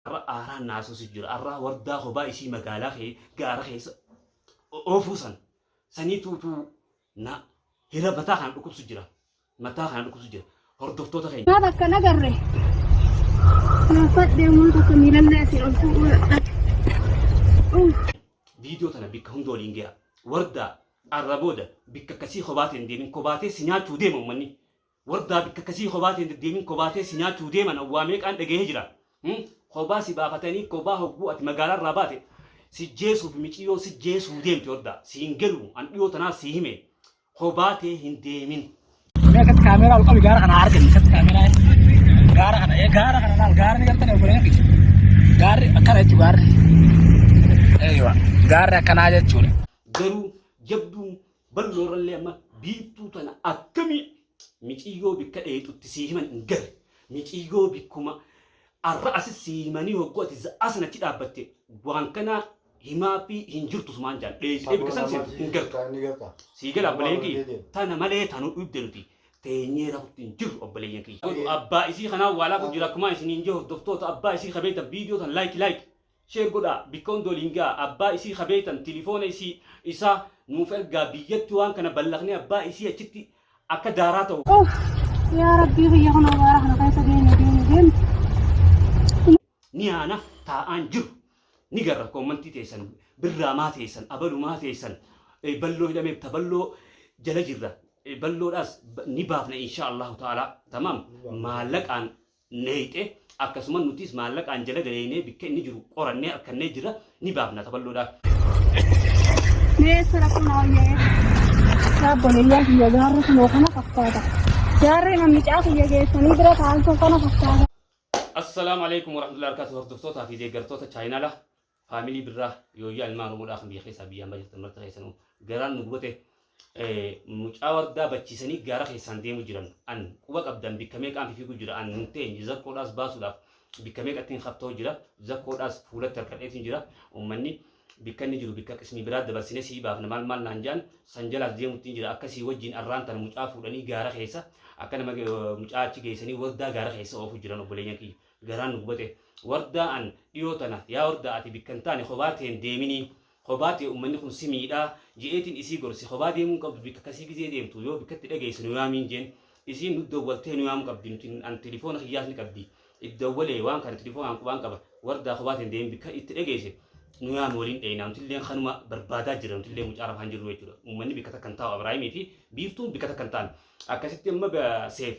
Arra aaraan na haasofsiisu jira. Arraa wardaa kobaa isii magaalaa kee gaara keessa oofuu san sanii tuutuu na hira mataa kana dhukkubsu jira. Mataa kana dhukkubsu jira. Hordoftoota keenya. Maaf akka nagarre naafadhe ummata akka miilallee asii ol fuudhuu dadhabe. Viidiyoo tana bikka hunda waliin gayaa. Wardaa arra booda bikka akkasii kobaatiin deemin kobaatee si nyaachuu deema ummanni. Wardaa bikka akkasii kobaa tee hin deddeemin kobaa tee si nyaachuf deeman awwaa meeqaan dhagahee jira Hum kobaa si baafatanii kobaa hogguu ati magaalaa irraa baate si jeesuuf miciyyoon si jeesuu deemti wardaa si hin galuu an dhiyoo tanaa si hime kobaa tee hin deemin. Mee akkatti kaameeraa ol qabi gaara kana argani akkatti kaameeraa gaara kana ee gaara kana laal gaara ni gartani obboleen kiyya gaarri akkana jechuu gaarri eeywa gaarri akkanaa jechuudha. Garuu jabduun Balloo irrallee amma biiftuu tana akkamii miciyyoo bikka dheexutti sii himan hin garre. Miciyyoo bikkuma arra asi sii himanii hogguu ati za'aa san achi dhaabbatte waan kana himaa fi hin jirtu sumaan jaan dheeyxee bikka san seentu hin gartu. Sii gala obboleeyyan kiyya tana malee tanu dhibde nuti teenyee rafutti hin jirru obboleeyyan kiyya. Abbaa isii kanaa waa laafu jira akkumaa isiniin jee hordoftoota abbaa isii ka beeytan viidiyoo tan like like Share godhaa bikka hunda waliin gahaa abbaa isii ka beeytan tilifoona isii, isaa, nuuf ergaa biyyatti waan kana ballaqnee abbaa isii achitti akka daaraa tahu. Uuff yaa rabbii biyya kun abaara kana keessa deemi deemi deemi. ni haana taa'aan jiru ni garra koommantii teessan birraa maa teessan abalu maa teessan eh, balloo hidhameef ta balloo jala jirra eh, balloodhaas ba- ni baafna inshaa allahu ta'ala tamaam maallaqaan neeyxe akkasuma nutiis maallaqaan jala galeeynee bikka inni jiru qorannee arkannee jirra ni baafna taballoodha. Mee eessa rakkoon hawwaa'ee? Dhaabboleeyyaa kiyya gaarri kunoo kana fakkaata. Gaarri mammicaa kiyya geessanii bira taa'an sun kana fakkaata. Assalaamu alaikum warahmatullahi wabarakatuh hordoftoota fi deeggartoota chaayinaala Family birraa yooyyaa ilmaan oromoodhaa kan biyya keessaa biyya ambaa jirtan marti keessanuu garaan nu gubate mucaa wardaa bachiisanii gaara keessaan deemu jiran an quba qabdan bikka meeqaan fifiigu jira an hin teenye zakkoodhaas baasuudhaaf bikka meeqattiin haftaa'u jira zakkoodhaas fuulatti harkadheetiin jira ummanni bikka inni jiru bikka qismii biraa dabarsine sii baafna maal maal naan jaan san jalaas deemuttiin jira akka sii wajjin arraan tana mucaa fuudhanii gaara keessa akka nama mucaa achi geessanii wardaa gaara keessa oofu jiran obboleeyyan kiyya garaan nu gubate wardaa an dhiyoo tana yaa wardaa ati bikka hin taane kophaa tee hin deeminii kophaa tee ummanni kun si miidhaa je'eetiin isii gorse kophaa deemuu hin qabdu bikka kasii gizee deemtu yoo bikkatti dhageesse nu yaamiin jeen isiin nu dawwaltee nu yaamuu qabdi nuti an tilifoona kiyyaas ni qabdi itti dawwalee waan kana tilifoonaan qubaan qaba wardaa kophaa tee hin deemin bikka itti dhageesse nu yaami waliin dheeynaa nutilleen kanuma barbaadaa jirra nutillee mucaa rafaan jirru jechuudha ummanni bikka takka hin taa'u Abiraahimii fi biiftuun bikka takka hin taane Akkasitti amma ga seef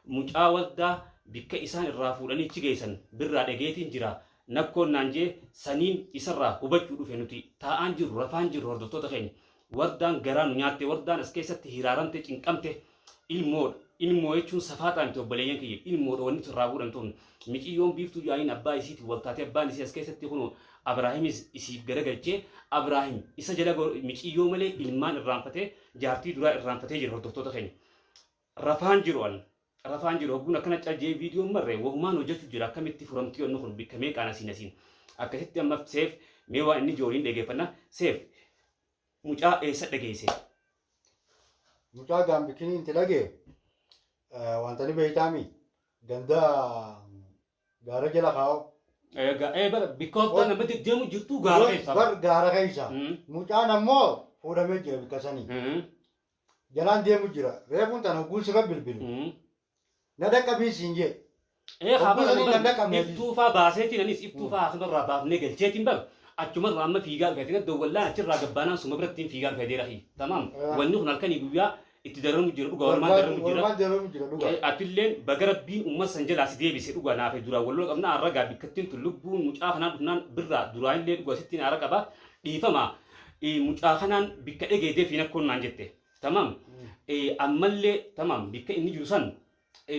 mucaa wardaa bikka isaan irraa fuudhanii achi geessan birraa dhageetiin jira nakkoon naan jee saniin isarraa hubachuu dhufe nuti taa'aan jirru rafaan jirru hordoftoota keenya wardaan garaa nu nyaatte wardaan as keessatti hiraaramte cinqamte ilmoodha ilmoo jechuun safaaxaa miti obboleeyyan kiyya ilmoodha wanni nuti irraa fuudhan tun miciyyoon biiftuu jaaniin abbaa isiitiin wal taatee abbaan isii as keessatti kunoo abraahimis isiif garagalchee abraahim isa jala go- miciyyoo malee ilmaan irraanfatee Jaartii duraa irraanfatee jira hordoftoota keenya. Rafaan jiru an. Rafaan jiru hogguun akkana cal jee viidiyoon marre wahumaan hojjachu jira akkamitti furamtii onni kun bikka meeqaan asiin asiin. Akkasitti amma seef mee waan inni jooliin dhageeffanna seef mucaa eessa dhageesse. Mucaa gaambikini inti dhage wantani beeytaami ganda Gaara jala kaa'u. Ee ga ee bar bikka hoggaa Hoj- nama deddeemu jirtu gaara Hoj- keessa. Bar gaara keessa. Mm. Mucaan ammoo fuudhamee jira bikka sanii. Mm. Jalaan deemu jira. Reefuun tan hogguun sirra bilbile. Mm. Na dhaqqabiin siin jee. Ee Hogguu haabara saniin kan dhaqqabne atis. iftuufaa baaseetiin anis iftuufaa hakimarraa baafnee galcheetiin bar achumarraa amma fiigaa dhufeetiin adda wallaan achirraa gabbaanaan suma birattiin fiigaa dhufee deera kiyya. Tamaam. Ah. Wanni kun halkanii guyyaa itti dararamu jira dhuga walumaan Walumaan dararamu jira walumaan dararamu jira dhuga. Eh, atilleen baga rabbiin ummata san jalaa si deebise dhuga naafee duraan wal lola qabna arra gaa bikkattiin tun lubbuun mucaa kanaa dhufnaan birraa duraan illee dhuga sittiin aara qaba dhiifama eh, mucaa kanaan bikka dhegee defiin akkoon naan jette tamam eh, ammallee tamam bikka inni jiru san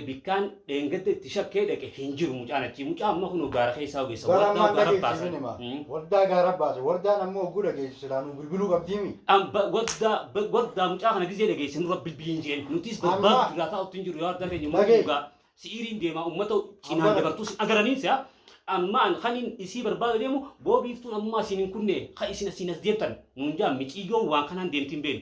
bikkaan dheengadda itti shakkee dhaqe hin jiru mucaan achii mucaa amma kunoo gaara keessaa ogeessa Bara wardaa ammaan gaara dhageessi baasan. isin hima. Mm. Wardaa gaara baase. Wardaan ammoo hogguu dhageessu silaa nuu bilbiluu qabdiimi. An ba- wardaa ba- wardaa mucaa kana gizee dhageesse nurra bilbiliin jeen nutis Amma- barbaadu jirraa taa'u ittiin jiru yaa wardaa keenya Dhagee. mootii dhugaa si'iriin deemaa ummata cinaan Abbara. dabartuu sin agaraniin si'a amma an kaniin isii barbaada deemu boobiiftuun ammaa siin hin kunne ka isin asiin as deemtan nuun jaa miciyyoon waan kanaan deemtiin beenu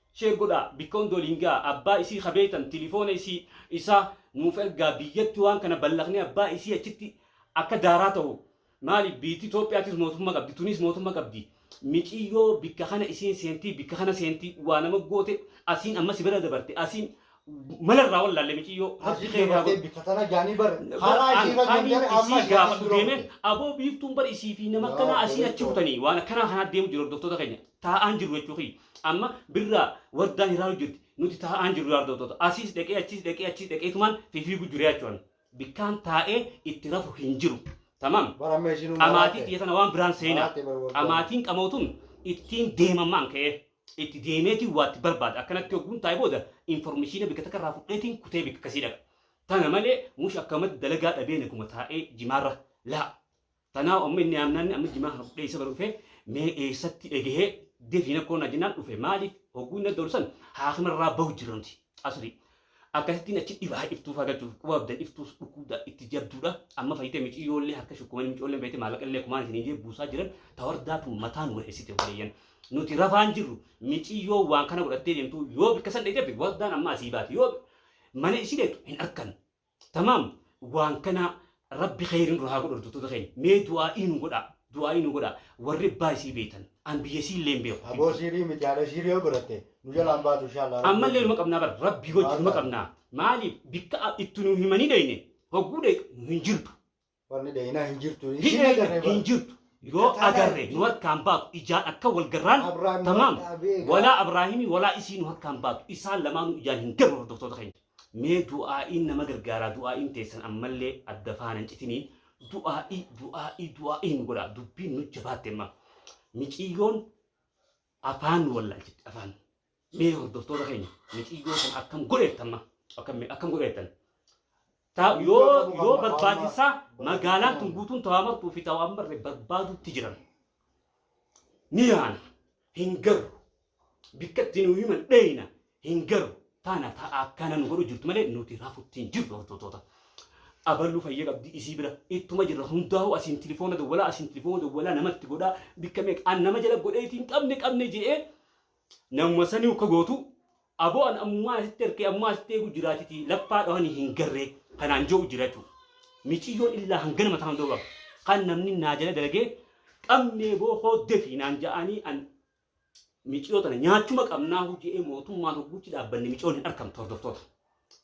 Share godhaa bikka hunda waliin gahaa abbaa isii ka beeytan tilifoona isii isaa nuuf ergaa biyyatti waan kana ballaqnee abbaa isii achitti akka daaraa tahu maaliif biiyti Itoophiyaatiis mootumma qabdi tuniis mootumma qabdi miciyyoo bikka kana isiin seentii bikka kana seentii waa nama goote asiin amma si bira dabarte asiin Mala irraa wallaalle miciyyoo rabbi Asii kee haa dabartee godhu. bikka tana jaanii bar. Bar Karaa an ishiirra kaaniin deemtee amma isii ishiirra gaafadhu dura deemee dhufte. aboo biiftuun bar isii fi nama Yaa akkanaa asii achi Kiristoos. butanii waan akkanaa kanaa deemu jiru hordoftoota keenya taa'aan jirru jechuu kiyya. Amma birraa wardaan hiraaruu jirti nuti taa'aan jirru yaa hordoftoota asiis dhaqee achiis dhaqee achiis dhaqee tumaan fifiiguu jiru jechuu ani. Bikkaan taa'ee itti rafu hin jiru. Tamam. Bar amma ishiinuu Qamaatii maraatte. xiyya tana waan biraan seenaa. Maraatte bar waggaa. Qamaatiin qamootuun ittiin deemammaan ka'ee. Itti deemeetiin waatti barbaada. Akkanatti hogguun taa'e booda informeshiina bikka takka irraa fudheetiin kutee bikka akkasii dhaqa. Tana malee mush akkamatti dalagaa dhabee naguma taa'ee jimaarra laa. Tanaahu amma inni aamnaanni amma jimaa kana fudhee isa bira dhufee mee eessatti dhagahee defiin akkoo naa jennaan dhufe maaliif hogguu inni adda ol san haakima irraa bahu jirra nuti asrii. Akkasittiin achi dhibaa iftuu fagachuuf quba abdan iftuus dhukkubda itti jabduudha amma fayyite miciyyoollee harka shukkumanii micoolleen fayyite maallaqallee kumaan isin hin jee buusaa jiran ta wardaa tun mataa nu wixisite obboleeyyan nuti rafaan jirru miciyyoo waan kana godhattee deemtu yoo bikka san dheeyte abdi wardaan amma asii baati yoo mana isii dheeytu hin arkan tamaam waan kanaa Rabbi kheeyri nurraa haa godhu hordoftoota keenya mee du'aa'ii nu godhaa du'aa'ii nu godhaa warri abbaa isii beeytan an biyya isii illee hin beeku Aboo kibbaa. siirii miti haadha siirii yoo godhatte nu jalaa hin baatu inshaa Allah rabbi Ammallee numa wajjin. qabnaa bar rabbii wajji Maal numa taate? qabnaa maaliif bikka a- itti nu himanii dheyne hogguu dheyxu nu hin jirtu Wanni dheeyinaa hin jirtu hin isiin dheyxu agarree hin bara. jirtu Bikka yoo taanaa agarre jirti. nu harkaa hin baatu ijaan akka wal garraan Abraahim tamaam waqtaa beekaa. walaa abraahimii walaa isii nu harkaa hin baatu isaan lamaanuu ijaan hin garru hordoftoota keenya. Mee du'aa'iin nama gargaaraa du'aa'iin teessan ammallee adda faana hin citinii du'aa'ii du'aa'ii du'aa'ii nu godhaa dubbiin nu jabaatte amma miciyyoon afaan nu wallaalchitti afaan mee hordoftoota keenya miciyyoo sana akkam godheetta amma akkam akkam godheettan Ta- Miciyyoo yoo ta'uu qabna, yoo ta'uu barbaachisaa qabna. magaalaan tun guutuun ta'aa martuu fi ta'aa marre barbaaduutti jiran ni yaana hin garru Bikka itti nuu himan dheeyna hin garu taana ta'a akkana nu godhu jirtu malee nuti rafutti hin jirru hordotoota. Abaluu fayya qabdi isii bira ittuma jirra hundaa'u asiin tilifoona dawwalaa asiin tilifoona dawwalaa namatti godhaa bikka meeqa an nama jala godheeti hin qabne qabne je'ee namuma saniu ka gootu aboo an ammumaa asitti harkee ammumaa asitti eegu jiraatiti laffaa dhawanii hin garree kanaan je'u jira jechuu miciyyoon illaa hangana mataa hundoo baaf kan namni naa jala dalagee qabnee boo hooddefi naan ja'anii an miciyoo tana nyaachuma qabnaa hujee mootummaan hogguutti dhaabbanne miciyoon hin arkamtu hordoftoota.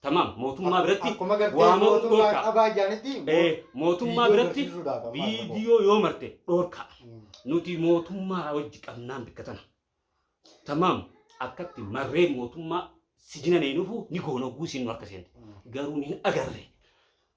Tamaam mootummaa biratti Akkuma gartee waamamuu mootummaa dhorkaa. qabaa jaanitti Eh, mootummaa viidiyoo biratti agarsiisuudhaaf amma argamu. viidiyoo yoo marte dhorkaa. Mm. Nuti mootummaa wajji qabnaan bikka tana. Tamaam akkatti marree mootummaa sijina neenufu ni goona hogguu siin nu harka seente. Garuu ni hin agarre.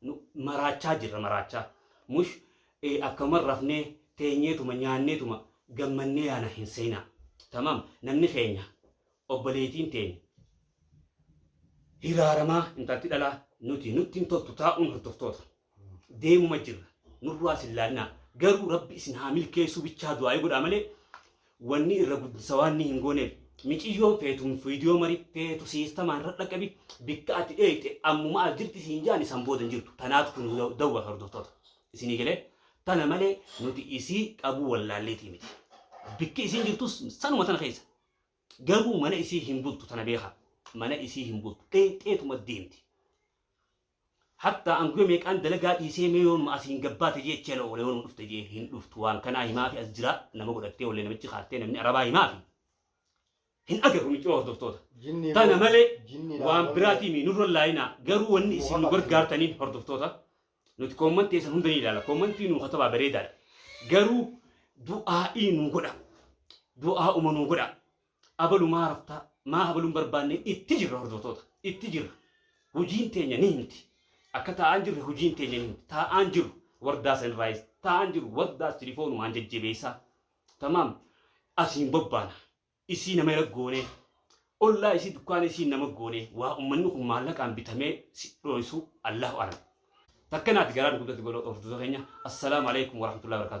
Nu maraachaa jirra maraachaa. Mush ee akkanuman rafnee teenyeetuma nyaanneetuma gammannee yaana hin seenaa. Tamam namni keenya obboleeytiin teenya hiraaramaa intalti dhalaa nuti nutti hin toltu taa'uun hordoftoota. Deemuma jirra nurraa isin laannaa garuu rabbi isin haa milkeessuu bichaa du'aa'ii godhaa malee Wanni irra guddisa waanni hin gooneef miciyyoon feetu viidiyoo mari feetu siistamaan irra dhaqqabi bikka ati dheeyxe ammuma as jirti siin jaani san booda hin jirtu tanaatu kun dawwa hordoftoota isinii galee tana malee nuti isii qabuu wallaalleetii miti bikki isiin jirtus sanuma tana keessa garuu mana isii hin bultu tana beekaa mana isii hin bultu dheeyxeetuma deemti Hattaa an guya meeqaan dalagaa dhiisee mee yoo numa asiin gabbaate jee chela oole yoo numa dhufte jee hin dhuftu waan kanaa himaafi as jiraa nama godhattee ollee namichi kaattee namni arabaa himaafi hin agarru miciroo hordoftoota Jinnii tana boodde, malee jinniidhaan waan boodde. biraatii mii nurra laayinaa garuu wanni isin nu gargaartaniif hordoftoota nuti koommantii teessan hunda ni ilaala koommantii nuu katabaa bareedaadha garuu du'aa'ii nuu godha du'aa'uma nuu godha Abalu maa raftaa maa habaluun barbaanne itti jirra hordoftoota itti jirra hujiin teenya ni himti akka taa'aan jirre hujiin teenya ni himti taa'aan jiru wardaa saniraayis taa'aan jiru wardaas tilifoonumaan jajjabeessaa tamaam asiin bobbaana isii nama ira goonee ollaa isii dukkaana isiin nama goonee waa ummanni kun maallaqaan bitamee si dhooysuu allahu alam takka naati garaa nu guddatti godha hordoftoota keenya assalaamu alaikum warahmatullahi wabarakatuh